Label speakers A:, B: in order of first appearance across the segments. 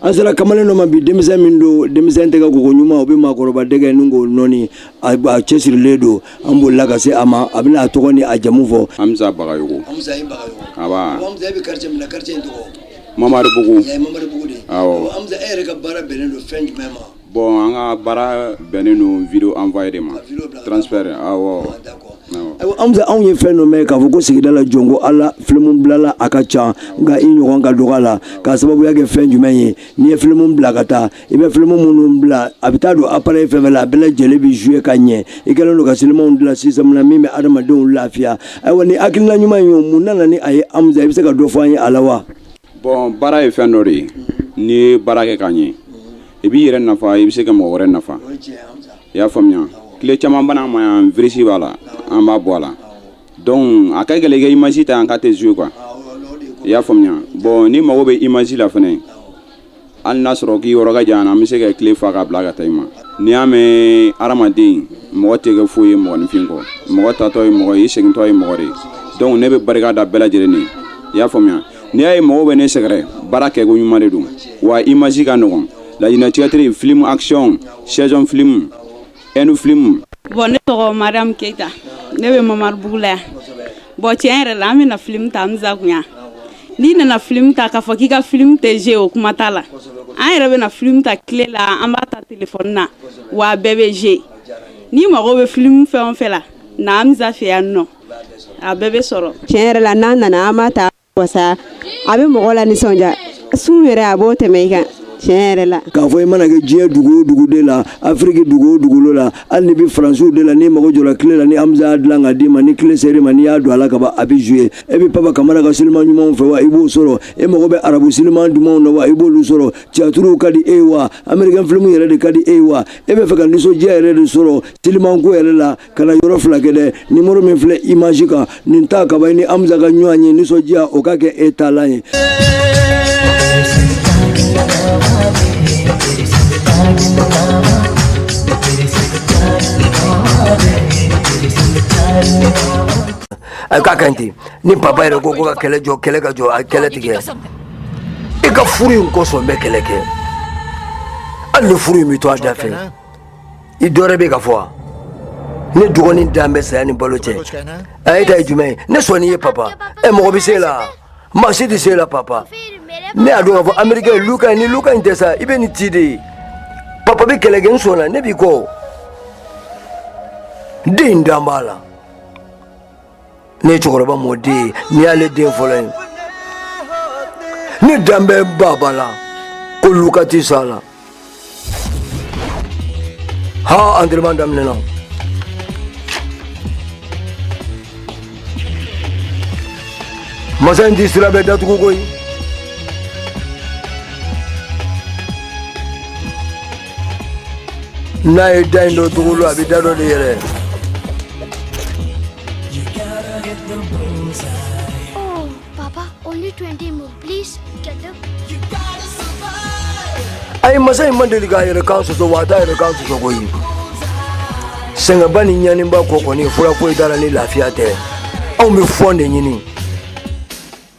A: an sera kamalen dɔ ma bi denmisɛn min don denmisɛn tɛgɛ koko ɲuman o bɛ maakɔrɔba dɛgɛ nɔɔni k'o nɔɔni a cɛsirilen don an bolila ka se a ma a bɛna a tɔgɔ ni a jamu fɔ hamza
B: bagayogo hamza i bagayogo nba hamza e bɛ quartier
A: min na quartier in tɔgɔ mamaribugu
B: mamaribugu de awɔ
A: hamza e yɛrɛ ka baara bɛnnen don fɛn jumɛn ma Bon an
B: ka baara bɛnnen don video envoyer de ma
A: transfert awɔ Hamza an ye fɛn dɔ mɛn k'a fɔ ko sigida la jɔn ko Ala film bilala a ka ca nka i ɲɔgɔn ka dɔgɔ a la k'a sababuya kɛ fɛn jumɛn ye n'i ye film bila ka taa i bɛ film minnu bila a bɛ taa don appareil fɛn o fɛn la a bɛɛ lajɛlen bɛ jouer ka ɲɛ i kɛlen don ka sinimaw dilan système na min bɛ adamadenw lafiya ayiwa ni hakilina ɲuman in ye mun nana ni a ye Hamza i bɛ se ka dɔ fɔ an ye a la wa? Bɔn
B: baara ye fɛn dɔ de ye n'i ye baara kɛ k'a ɲɛ i b'i yɛrɛ nafa i bɛ se ka mɔgɔ wɛrɛ nafa i y'a faamuya clé caman bɛ na n ma yan virisi b'a la an b'a bɔ a la dɔnku a ka gɛlɛn ka image ta yan k'a tɛ jouer quoi i y'a faamuya bɔn n'i mago bɛ image la fana hali n'a sɔrɔ k'i yɔrɔ ka jan an bɛ se ka clé fa ka bila ka taa i ma n'i y'a mɛn hadamaden mɔgɔ tɛ kɛ foyi ye mɔgɔninfin kɔ mɔgɔ taatɔ ye mɔgɔ ye i segintɔ ye mɔgɔ de ye donc ne bɛ barika da bɛɛ lajɛlen ye i y'a faamuya n'i y'a ye mɔgɔw bɛ ne sɛgɛrɛ baara kɛko ɲuman de don wa image ka nɔgɔn laɲinɛ theatre film action saison film ɛndu filimu. bɔn ne
C: tɔgɔ mariam keyita ne bɛ mamaribugu la yan bɔn tiɲɛ yɛrɛ la an bɛ na filimu ta hamza kun yan n'i nana filimu ta k'a fɔ k'i ka filimu tɛ jouer o kuma t'a la an yɛrɛ bɛ na filimu ta clé la an b'a ta telefɔni na wa a bɛɛ bɛ jouer n'i mago bɛ filimu fɛn o fɛn la na hamza fɛ yan nɔ a bɛɛ bɛ sɔrɔ. tiɲɛ yɛrɛ la n'an nana
D: an b'a ta wasa a bɛ mɔgɔ lanisɔndiya sun yɛrɛ a b'o tɛmɛ i kan tiɲɛ yɛrɛ la k'a fɔ i mana
A: kɛ diɲɛ dugu o dugu de la afiriki dugu o dugukolo la hali n'i bɛ faransiw de la n'i mago jɔra clé la ni hamza y'a dilan ka d'i ma ni clé sera i ma n'i y'a don a la ka ban a bɛ jouer e bɛ papa kamara ka siliman ɲumanw fɛ wa i b'o sɔrɔ e mago bɛ arabu siliman dumanw na wa i b'olu sɔrɔ tiyatiriw ka di e ye wa amerikɛn filimu yɛrɛ de ka di e ye wa e bɛ fɛ ka nisɔndiya yɛrɛ de sɔrɔ silimanko yɛrɛ la kana yɔrɔ fila kɛ dɛ nimoro min filɛ image kan nin ta ka ban i ni hamza ka ɲɔgɔn ye nisɔndiya o ka kɛ e taalan ye a ka kan ten ni papa yɛrɛ ko ko ka kɛlɛ jɔ kɛlɛ ka jɔ a kɛlɛ tigɛ i ka furu in kosɔn bɛ kɛlɛ kɛ hali ni furu in bɛ to a da fɛ i dɔwɛrɛ bɛ ka fɔ wa ne dɔgɔnin dan bɛ saya ni balo cɛ a ye ta ye jumɛn ye ne sɔnni ye papa ɛ mɔgɔ bɛ se la maa si tɛ se la papa ne y'a dɔn k'a fɔ amerikɛ ye luka ye ni luka in tɛ sa i bɛ nin ti de ye papa bɛ kɛlɛ kɛ n sɔnna ne b'i kɔ den dan b'a la ne ye cɛkɔrɔba mɔden ye ne y'ale den fɔlɔ ye ne dan bɛ baba la ko luka tɛ sa la ha antɛrɛman daminɛna masa in tɛ sira bɛɛ datugu koyi n'a ye da in dɔ tugu lo a bɛ da dɔ de yɛlɛ ayi masa in ma deli k'a yɛrɛ kan sɔsɔ wa a t'a yɛrɛ kan sɔsɔ koyi sɛgɛnba ni ɲaniba kɔ kɔni fura foyi t'a la ni lafiya tɛ anw bɛ fɔn de ɲini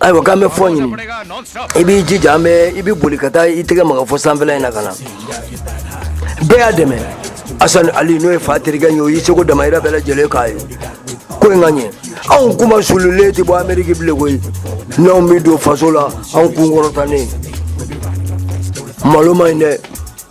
A: ayiwa k'an bɛ fɔn ɲini i b'i jija i bɛ boli ka taa i tɛgɛ maga fo sanfɛla in na ka na bɛɛ y'a dɛmɛ asani ali n'o ye fa terikɛ ye o y'i seko damayira bɛɛ lajɛlen k'a ye ko in ka ɲɛ anw kunmasuulilen tɛ bɔ ameriki bilen koyi n'anw bɛ don faso la anw kun kɔrɔtalen malo man ɲi dɛ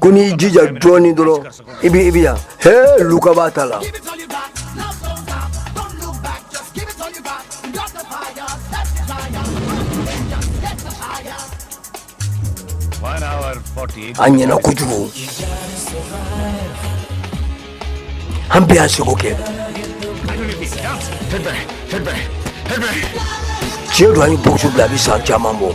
E: ko n'i y'i
A: jija dɔɔnin dɔrɔn i bɛ i bɛ yan he luka b'a ta la an ɲɛna kojugu an bɛ an seko kɛ tiɲɛ don an ye bogosu bila a bɛ san caman bɔ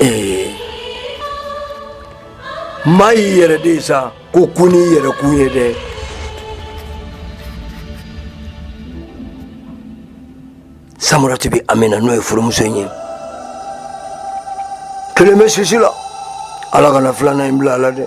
A: Ee maa y'i yɛrɛ de sa ko kun ni yɛrɛ kun ye dɛ samara tɛ bɛ amina n'o ye furumuso in ye kelen bɛ sisi la ala kana filanan in bila a la dɛ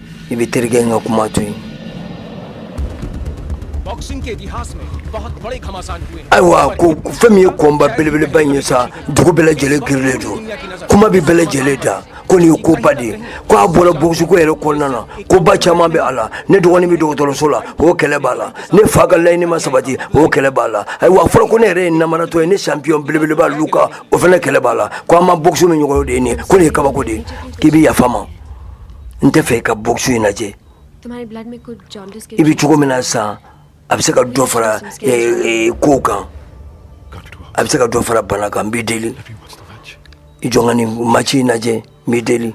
A: i bɛ terikɛ in ka kuma to
F: yen ayiwa ko fɛn min
A: ye kɔnba belebeleba in ye sa dugu bɛɛ lajɛlen girilen don kuma bɛ bɛɛ lajɛlen da ko nin ye koba de ye ko a bɔra bogosuko yɛrɛ kɔnɔna na koba caman bɛ a la ne dɔgɔnin bɛ dɔgɔtɔrɔso la o kɛlɛ b'a la ne fa ka laɲini ma sabati o kɛlɛ b'a la ayiwa a fɔra ko ne yɛrɛ ye namaratɔ ye ne sanpiyɔn belebeleba luka o fana kɛlɛ b'a la ko an ma bogosu min ɲɔgɔn de ye nin ko nin ye kabako de ye k'i bɛ yafa ma n tɛ fɛ i ka boxu in
G: lajɛ i bɛ cogo min na sa
A: a bɛ se ka dɔ fara kow kan a bɛ se ka dɔ fara bana kan n b'i deli i jɔn ka nin maci in lajɛ n b'i deli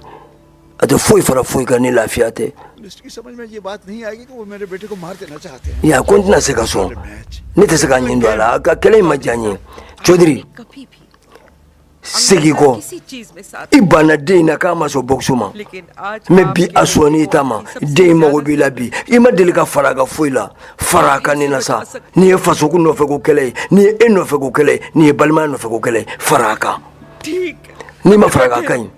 A: a tɛ foyi fara foyi kan ni lafiya
H: tɛ ya ko n tɛna se ka sɔn
A: ne tɛ se ka ɲin don a la a ka kɛlɛ in ma diya n ye codiri segin
G: kɔ i banna den in na k'a
A: ma sɔn boxu ma mɛ
G: bi a sɔn'i
A: ta ma den in mago b'i la bi i ma deli ka fara kan foyi la fara kan nin na sa nin ye fasoko nɔfɛ ko kɛlɛ ye nin ye e nɔfɛ ko kɛlɛ ye nin ye balimaya nɔfɛ ko kɛlɛ ye fara kan
G: n'i ma fara ka
A: ka ɲi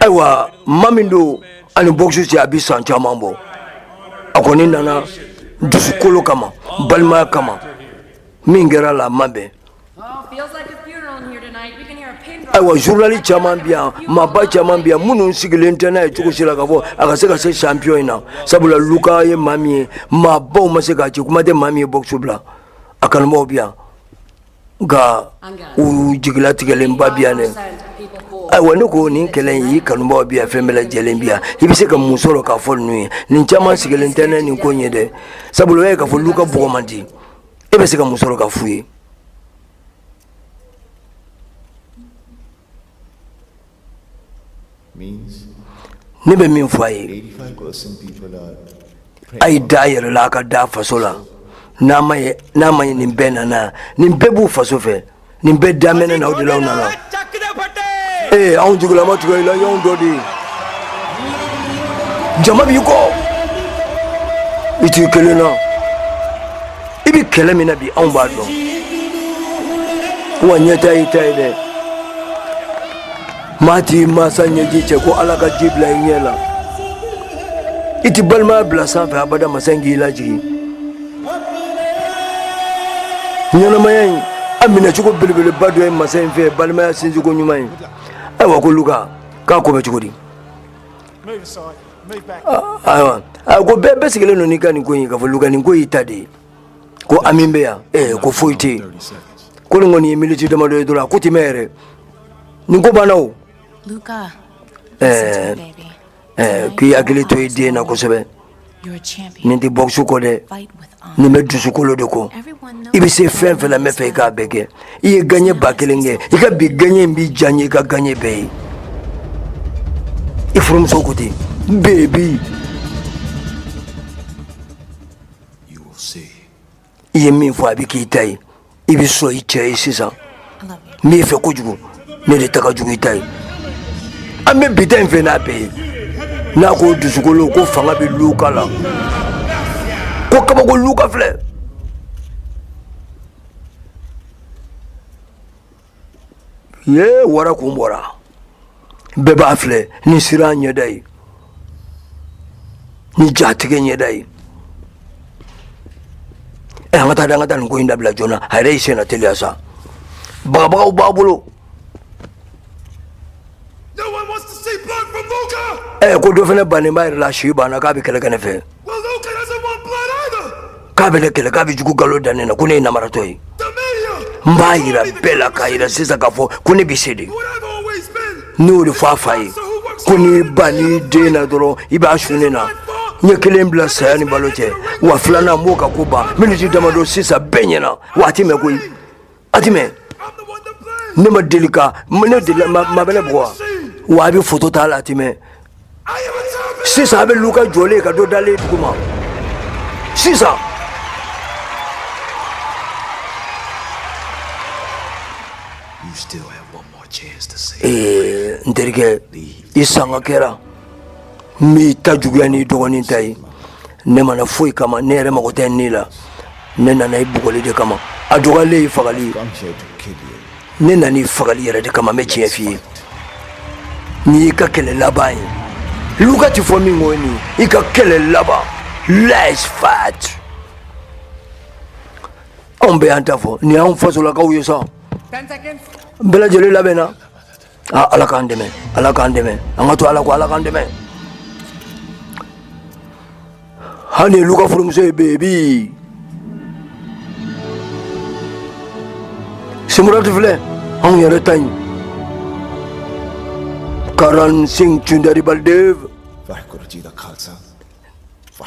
A: Ayiwa maa min don ani boxu cɛ a bɛ san caman bɔ a kɔni nana dusukolo kama balimaya kama min kɛra a la ma bɛn ayiwa zurunalisi caman bi yan maaba caman bi yan minnu sigilen tɛ n'a ye cogo si la k'a fɔ a ka se ka se sanpiyɔn in na sabula luka ye maa min ye maabaw ma se k'a ci kuma tɛ maa min ye boxu bila a kanubaw bi yan nka u jigilatigɛlenba bi yan dɛ ayiwa ne ko nin kɛlɛ in y'i kanubaw bi yan fɛn bɛɛ lajɛlen bi yan i bɛ se ka mun sɔrɔ k'a fɔ ninnu ye nin caman sigilen tɛ ni nin ko in ye dɛ sabula u y'a ye k'a fɔ luka bɔgɔ man di e bɛ se ka mun sɔrɔ k'a f'u ye ne bɛ min fɔ a ye a ye da a yɛrɛ la a ka da faso la n'a ma ye n'a ma ye nin bɛɛ nana nin bɛɛ b'u faso fɛ nin bɛɛ daminɛna o de la aw nana ee anw jigila ma tigɛ i la i y'anw dɔ de ye jama b'i kɔ i t'i kelen na i bɛ kɛlɛ min na bi anw b'a dɔn wa ɲɛtaa y'i ta ye dɛ maa t'i masa ɲɛji cɛ ko ala ka ji bila i ɲɛ la i tɛ balimaya bila sanfɛ abada masa in k'i lajigin ɲɛnamaya in a minɛcogo belebeleba dɔ ye masa in fɛ balimaya sinsinko ɲuman ye ayiwa ko luka k'a ko bɛ cogo di ayiwa ko bɛɛ bɛɛ sigilen don n'i ka nin ko in k'a fɔ luka nin ko y'i ta de ye ko an min bɛ yan ee ko foyi tɛ yen ko nin kɔni ye miniti damadɔ ye dɔrɔn a ko tɛ mɛn
I: yɛrɛ nin
A: ko banna
I: o
A: ɛɛ ɛɛ k'i hakili to i den na kosɛbɛ nin tɛ bɔkisi kɔ dɛ nin bɛ dusukolo de kɔ i bɛ se fɛn fɛn la n bɛ fɛ i k'a bɛɛ kɛ i ye gaɲɛ ba kelen kɛ i ka bi gaɲɛ in bi diya n ye i ka gaɲɛ bɛɛ ye i furumuso ko ten bebi i ye min fɔ a bɛ k'i ta ye i bɛ sɔn i cɛ ye sisan n b'i fɛ kojugu ne de ta ka jugu i ta ye an bɛ bi ta in fɛ n'a bɛɛ ye n'a ko dusukolo ko fanga bɛ luka la ko kabako luka filɛ ye wara kun bɔra bɛɛ b'a filɛ ni siran ɲɛda ye ni jatigɛ ɲɛda ye ɛ an ka taa an ka taa nin ko in dabila joona a yɛrɛ y'i senna teliya sa bagabagaw b'a bolo ɛ ko dɔ fana bannen b'a yɛrɛ la si banna k'a bɛ kɛlɛ kɛ ne fɛ k'a bɛ ne kɛlɛ k'a bɛ jugu galo da ne na ko ne ye namaratɔ ye n b'a yira bɛɛ la k'a yira sisan k'a fɔ ko ne bɛ se de ne y'o de fɔ a fa ye ko n'i ban i den na dɔrɔn i b'a su ne na n ye kelen bila saya ni balo cɛ wa filanan n b'o ka ko ban miniti damadɔ sisan bɛɛ ɲɛna wa a ti mɛn koyi a ti mɛn ne ma deli ka ne deli maa bɛ ne bugɔ wa wa a bɛ foto t'a la a ti mɛn sisan a bɛ luka jɔlen ka dɔ dalen dugu ma sisan You still have one more chance to save. ee n terikɛ i sanga kɛra n b'i ta juguya n'i dɔgɔnin ta ye ne ma na foyi kama ne yɛrɛ mago tɛ ni la ne nana i bugɔli de kama a dɔgɔyalen ye fagali ye ne nana i fagali yɛrɛ de kama n bɛ tiɲɛ f'i ye nin y'i ka kɛlɛ laban ye luka ti fɔ min ko ye nin i ka kɛlɛ laban last fight anw bɛɛ y'an ta fɔ nin y'anw fasolakaw ye sa bɛɛ lajɛlen labɛnna Aa ala k'an dɛmɛ ala k'an dɛmɛ an ka to ala ko ala k'an dɛmɛ hali luka furumuso ye bebi simurati filɛ anw yɛrɛ ta ye karan sin cundari baldev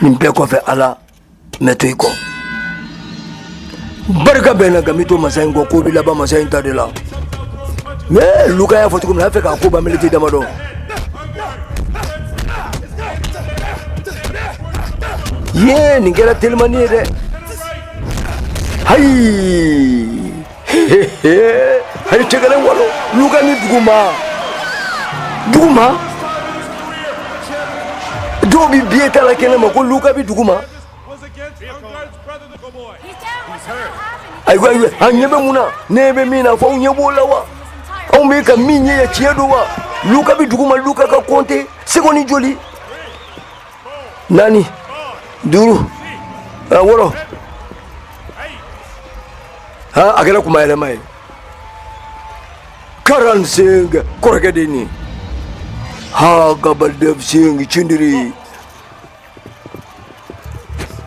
A: nin bɛɛ kɔfɛ ala mɛ to i kɔ barika bɛnna nka n bi to masa in kɔ ko bi laban masa in ta de la mɛ luka y'a fɔ cogo min na a fɛ k'a ko ban miniti damadɔ ye nin kɛra telimani ye dɛ hayi hayi cɛ kɛlɛ walo luka bi duguma duguma dɔw bi biye ta la kɛnɛ ma ko luka bi duguma ayiwa ayiwa an ɲɛ bɛ mun na n ɲɛ bɛ min na fɔ aw ɲɛ b'o la wa anw bɛ ka min ɲɛ ye tiɲɛ don wa luka bi duguma luka ka kɔnte sekondi joli naani duuru ah, wɔɔrɔ ah, a kɛra kuma yɛlɛma ye Karan Singh kɔrɔkɛ de nin ha Gabaldev Singh cindiri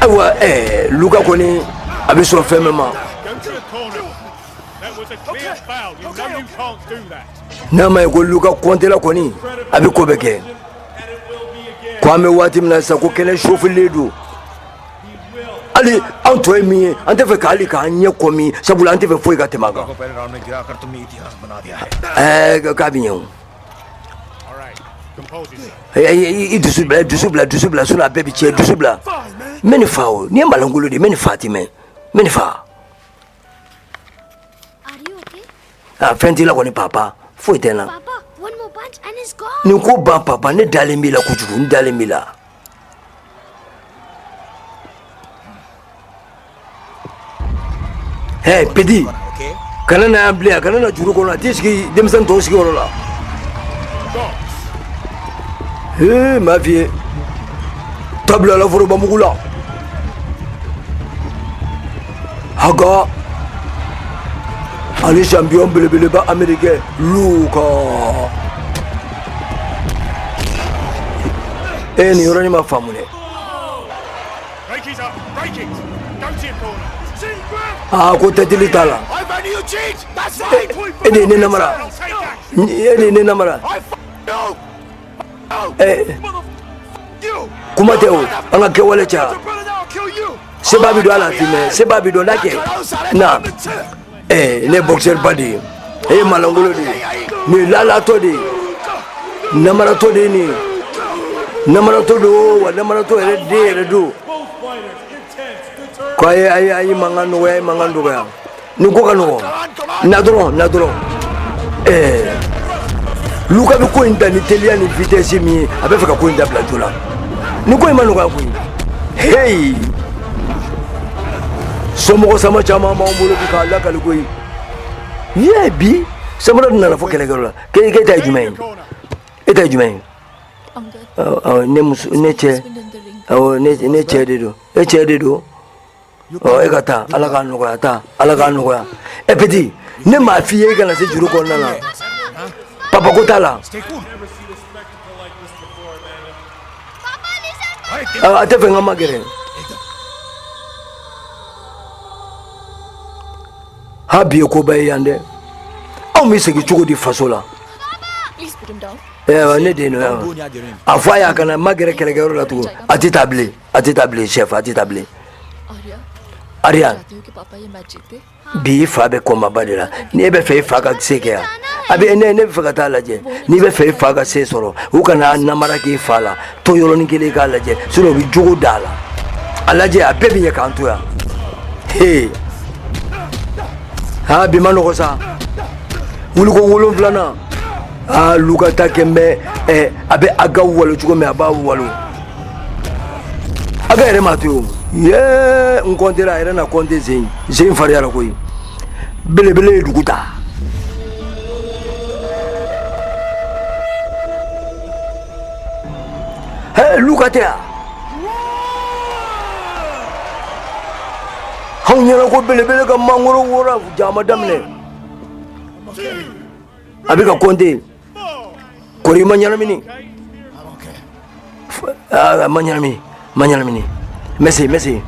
A: ayiwa eh, luka kɔni a bɛ sɔn fɛn bɛɛ ma n'a ma ye ko luka kɔntela kɔni a bɛ ko bɛɛ kɛ ko an bɛ waati min na sisan ko kɛnɛ chauffélen don hali an tɔw ye min ye an tɛ fɛ ka hali k'an ɲɛ kɔmi sabula an tɛ fɛ foyi ka tɛmɛ an kan ɛɛ k'a bɛ ɲɛ o i dusu bila dusu bila dusu bila sinon a bɛɛ bi cɛn dusu bila n bɛ nin fa o nin ye malangolo de n bɛ nin fa ti mɛn n bɛ nin fa a fɛn t'i la kɔni papa foyi tɛ n na nin ko ban papa ne dalen b'i la kojugu n dalen b'i la Hey petit kana na yan bilen a kana na juru kɔnɔ a t'i sigi denmisɛn tɔw sigiyɔrɔ la ee m'a f'i ye tabila la forobamugu la a ka ani champion belebeleba américain luka Ee, nin yɔrɔnin ma faamu dɛ. Aa ko tɛtili t'a la. E de ye ne namara. E de ye ne namara. Ee, kuma tɛ o, an ka kɛwale caya. Sebaa bi dɔn a la, Fimɛ, Sebaa bi dɔn, n'a kɛ, na. eh, ne ye boxeurba de ye e ye malangolo de ye nin ye lalatɔ de ye namaratɔ de ye nin ye namaratɔ don wa namaratɔ yɛrɛ den yɛrɛ don ko a ye a ye a ye mankan nɔgɔya a ye mankan dɔgɔya nin ko ka nɔgɔ na dɔrɔn na dɔrɔn ɛɛ eh, luka bɛ ko in ta ni teliya ni vitesse min ye a bɛ fɛ ka ko in dabila joona nin ko in ma nɔgɔya koyi heyi. somɔgɔ sama caman b'an bolo bi k'a lakali koyi n'i y'a ye bi samara dun nana fɔ kɛlɛkɛyɔrɔ la k'e k'e ta ye jumɛn ye e ta ye jumɛn ye awɔ awɔ, ne muso ne cɛ awɔ ne ne cɛ de don e cɛ de don ɔ e ka taa ala k'a nɔgɔya taa ala k'a nɔgɔya ɛ petit ne m'a f'i ye i kana se juru kɔnɔna na papa ko t'a la Ah, a t'a fɛ n ka magɛrɛ ha bi ye koba ye yan dɛ anw bɛ segin cogo di faso la ne den no a fɔ a y'a kana magɛrɛ kɛlɛkɛyɔrɔ la tugun a tɛ taa bilen a tɛ taa bilen chef a tɛ taa bilen Ariane bi i fa bɛ kɔnbaba de la n'e bɛ fɛ i fa ka se kɛ yan a bɛ ne ne bɛ fɛ ka taa lajɛ n'i bɛ fɛ i fa ka se sɔrɔ u kana namara k'i fa la to yɔrɔnin kelen k'a lajɛ sinon u bɛ jogo d'a la a lajɛ a bɛɛ bɛ ɲɛ k'an to yan hee aa bi ma nɔgɔ sa wuliko wolonfilanan aa luka ta kɛ n bɛ ɛ a bɛ aga walo cogo min a b'a walo aga yɛrɛ m'a to yen yee n kɔntera a yɛrɛ na kɔnte sen fariyara koyi belebele ye dugu ta he luka tɛ yan anw ɲɛna ko belebele ka mangoro wora jama daminɛ a bɛ ka kɔnte Kori ma ɲɛnamini ah, ma ɲɛnami ma ɲɛnamini merci merci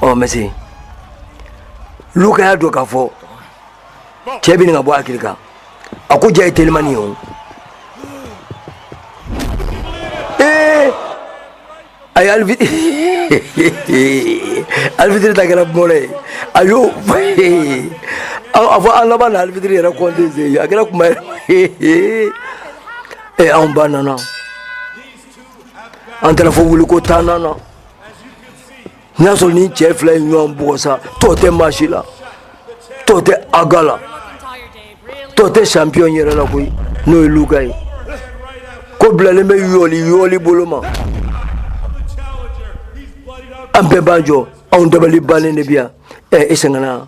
A: ɔ merci luka y'a dɔn k'a fɔ cɛ bɛ ɲini ka bɔ hakili kan a ko ja ye telimani ye o ay arbi arbitre ta kɛra mɔnɛ ye a y'o a fɔ an labanna arbitre yɛrɛ kɔnte sen a kɛra kuma ye ee anw ba nana an taara fɔ wuliko tannan na n'i y'a sɔrɔ ni cɛ fila ye ɲɔgɔn bugɔ sa tɔ tɛ maa si la tɔ tɛ aga la tɔ tɛ champion yɛrɛ la koyi n'o ye luka ye ko bilalen bɛ yɔli yɔli bolo ma an bɛɛ b'an jɔ anw dabali bannen de bi yan ɛ i sɛgɛnna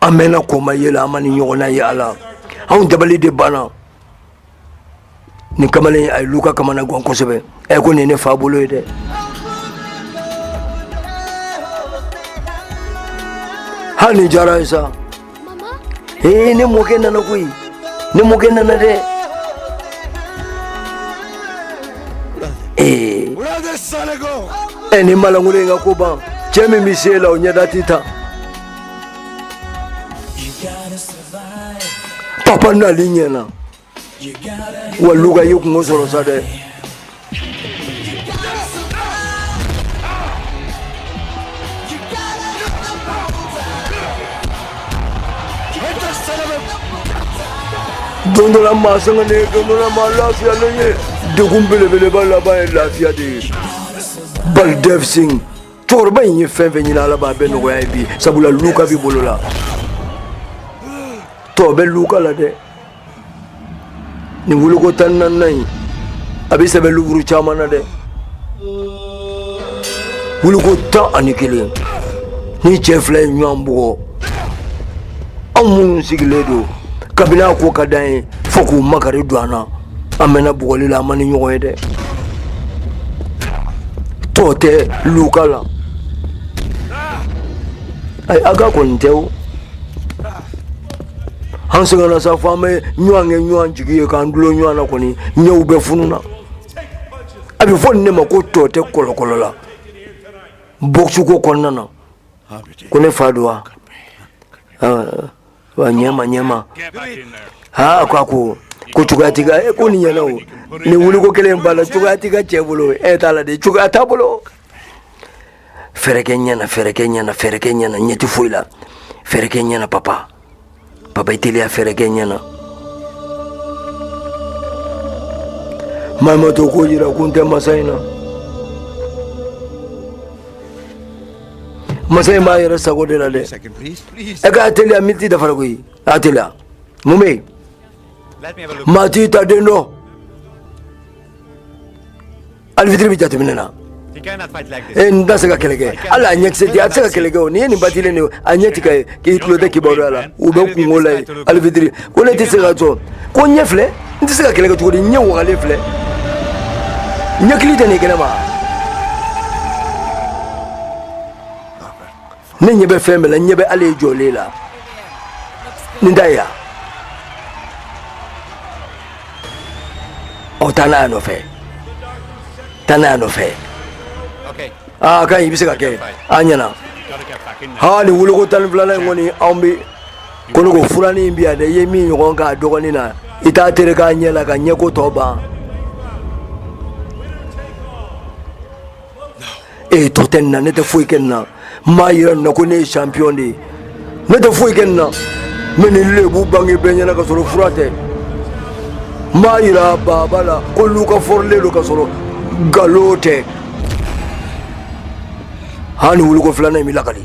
A: an mɛnna kɔnba ye la an ma nin ɲɔgɔnna ye a la anw dabali de banna nin kamalen a ye luka kamanagan kosɛbɛ ɛ ko nin ne fa bolo ye dɛ hali nin diyara ye sa ee ne mɔkɛ nana koyi ne mɔkɛ nana dɛ ee ɛ nin maalankolon in ka ko ban cɛ min bɛ se la o ɲɛda tɛ ta papa n'ale ɲɛna wa luka ye kunko sɔrɔ sa dɛ don dɔ la maa sɛgɛnnen ye don dɔ la maa lafiyalen ye degun belebeleba laban ye lafiya de ye baldev singh cɛkɔrɔba in ye fɛn fɛn ɲini ala b'a bɛɛ nɔgɔya i ye bi sabula luka b'i bolo la tɔ bɛ luka la dɛ nin wuliko tan naaninan in a bɛ sɛbɛn liburu caman na dɛ wuliko tan ani kelen nin cɛ fila ye ɲɔgɔn bugɔ anw minnu sigilen don kabini a ko ka d'an ye fo k'u makari don an na an mɛnna bugɔli la an ma nin ɲɔgɔn ye dɛ tɔ tɛ luka la ayi a ka kɔni tɛ o an sɛgɛnna sa fo an bɛ ɲɔgɔn kɛ ɲɔgɔn jigi ye k'an dulon ɲɔgɔn na kɔni ɲɛw bɛɛ fununa a bɛ fɔ nin ne ma ko tɔ tɛ kɔlɔkɔlɔ la boxe ko kɔnɔna na ko ne fa don wa wanyama nyama ha kwa ku ko cogoya t'i ka e ko nin ɲɛna o nin wuliko kelen b'a la cogoya t'i ka cɛ bolo e t'a la de cogoya t'a bolo fɛɛrɛ kɛ ɲɛ na fɛɛrɛ kɛ ɲɛ na fɛɛrɛ kɛ ɲɛ na ɲɛ tɛ foyi la fɛɛrɛ kɛ ɲɛ na papa papa i teliya fɛɛrɛ kɛ ɲɛ na maɲumatɔ ko jira ko n tɛ masa in na masa in b'a yɛrɛ sago de la dɛ e k'a teliya miniti dafara koyi a teliya mun bɛ yen maa t'i ta den dɔn aribitiri bɛ jateminɛ na e n tɛ se ka kɛlɛ kɛ hali a ɲɛkisɛ di a tɛ se ka kɛlɛ kɛ o n'i ye nin batilen de a ɲɛ tɛ ka ye k'i tulo tɛ kibaruya la u bɛ kungo la ye aribitiri ko ne tɛ se ka sɔn ko ɲɛ filɛ n tɛ se ka kɛlɛ kɛ cogo di ɲɛ wagalen filɛ ɲɛkili tɛ nin kɛnɛ ma ne ɲɛ bɛ fɛn bɛɛ la ɲɛ bɛ ale ye jɔlen la nin da yan ɔ taa n'a y'a nɔfɛ taa n'a y'a nɔfɛ a ka ɲi i bɛ se k'a kɛ a ɲɛna haa nin wuliko tan ni filanan in kɔni anw bɛ ko ne ko furanin in bi yan dɛ i ye min ɲɔgɔn k'a dɔgɔnin na i t'a terek'a ɲɛ la ka ɲɛko tɔ ban ee tɔ tɛ nin na ne tɛ foyi kɛ nin na n b'a yira nin na ko ne ye champion de ye ne tɛ foyi kɛ nin na n bɛ nin lebu bange bɛɛ ɲɛna ka sɔrɔ fura tɛ n b'a yira baaba la ko lu ka fɔrilen don ka sɔrɔ nkalon tɛ hani wuliko filanan in bɛ lakali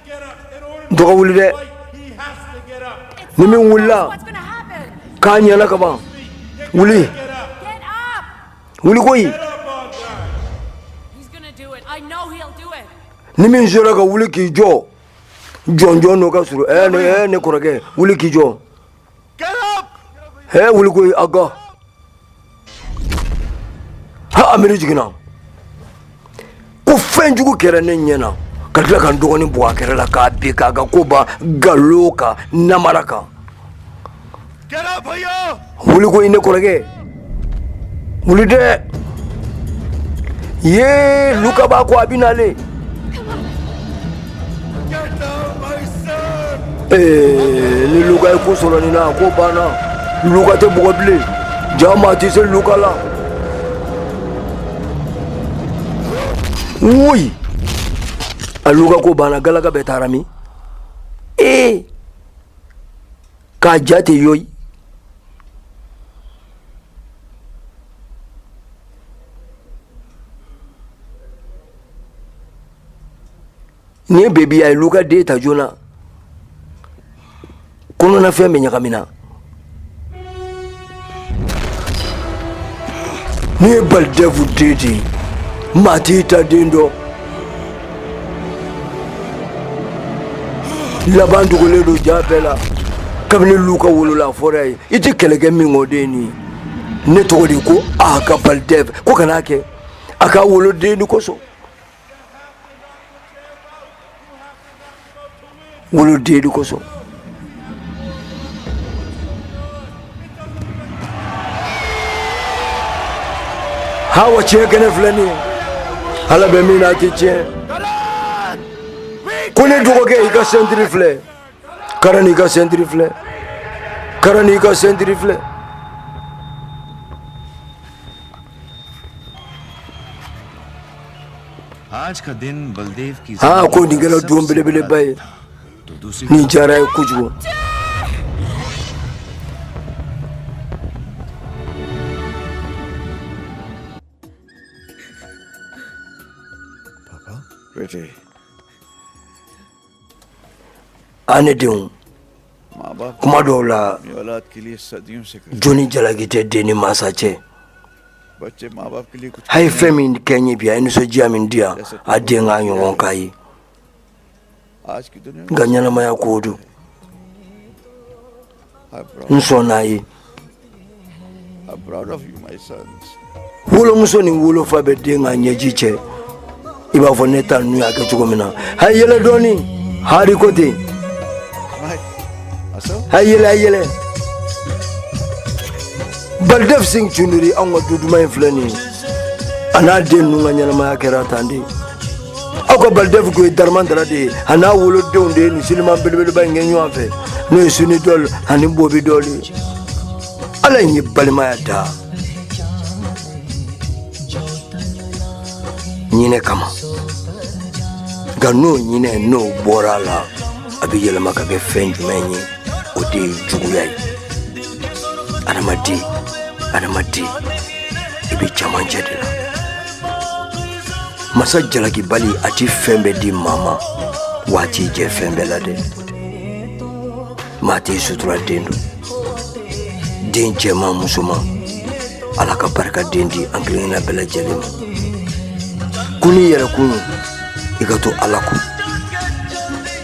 A: dɔgɔ wuli dɛ ni min wulila k'a ɲɛna ka ban wuli wuli koyi ni min sera ka wuli k'i jɔ jɔnjɔn n'o ka surun ɛɛ ne kɔrɔkɛ wuli k'i jɔ He wuli koyi Aga. Ha Amiri jiginna. Ko fɛn jugu kɛra ne ɲɛ na. Ka tila ka n dɔgɔnin bugɔ a kɛrɛ la k'a bin k'a ka ko ban nkalon kan namara kan. Wuli koyi ne kɔrɔkɛ. Mulide ye luka ba ko abinale eh ni luka ko solo ni na ko bana luka te bugo bile jama ti se luka la oui aluka ko bana galaka betarami eh k'a ja tɛ yɔyi ni bebi a ye lu ka den ta joona kɔnɔnafɛn bɛɛ ɲagamina ne baldevu den de maa t'i ta den dɔn laban dogolen don ja bɛɛ la kabini lu ka wolola fɔra ye i tɛ kɛlɛ kɛ min kɔ den nin ne tɔgɔ de ko a ka balidɛv ko kana kɛ a ka woloden ni kosɔn Woloden de kosɔn ha wa tiɲɛ kɛnɛ filɛ nin ye ala bɛ min na a tɛ tiɲɛ ko ne dɔgɔkɛ i ka sɛntiri filɛ Karan i ka sentiri filɛ Karan i ka sentiri
E: filɛ aa ko nin kɛra don
A: belebeleba ye nin diyara n ye kojugu aa ne
H: denw kuma dɔw la jo ni jalaki tɛ den ni
A: mansa cɛ
H: a ye fɛn min kɛ n
A: ye bi a ye nisɔndiya min di yan a den k'a ɲɔgɔn k'a
H: ye nka ɲɛnamaya ko don
A: n sɔnn'a
H: ye wolomuso
A: ni wolofa bɛɛ den ka ɲɛji cɛ i b'a fɔ ne ta ninnu y'a kɛ cogo min na a yɛlɛ dɔɔnin hari ko ten a yɛlɛ a yɛlɛ balidɛf sin cunduri anw ka du duman in filɛ nin ye a n'a den ninnu ka ɲɛnamaya kɛra tan de aw ka balidɛf ko ye daramandara de ye a n'a wolodenw de ye nin siliman belebeleba in kɛ ɲɔgɔn fɛ n'o ye suni dɔl ani bɔbi dɔl ye ala ye balimaya da hinɛ kama nka n'o hinɛ n'o bɔra a la a bɛ yɛlɛma ka kɛ fɛn jumɛn ye o de ye juguya ye adamaden adamaden i bɛ camancɛ de la masa jalakibali a ti fɛn bɛɛ di maa ma wa a t'i jɛ fɛn bɛɛ la dɛ maa t'i suturaden dɔn den cɛman musoman ala ka barika den di an kelenkelenna bɛɛ lajɛlen ma ko n'i yɛrɛ kun i ka to ala ko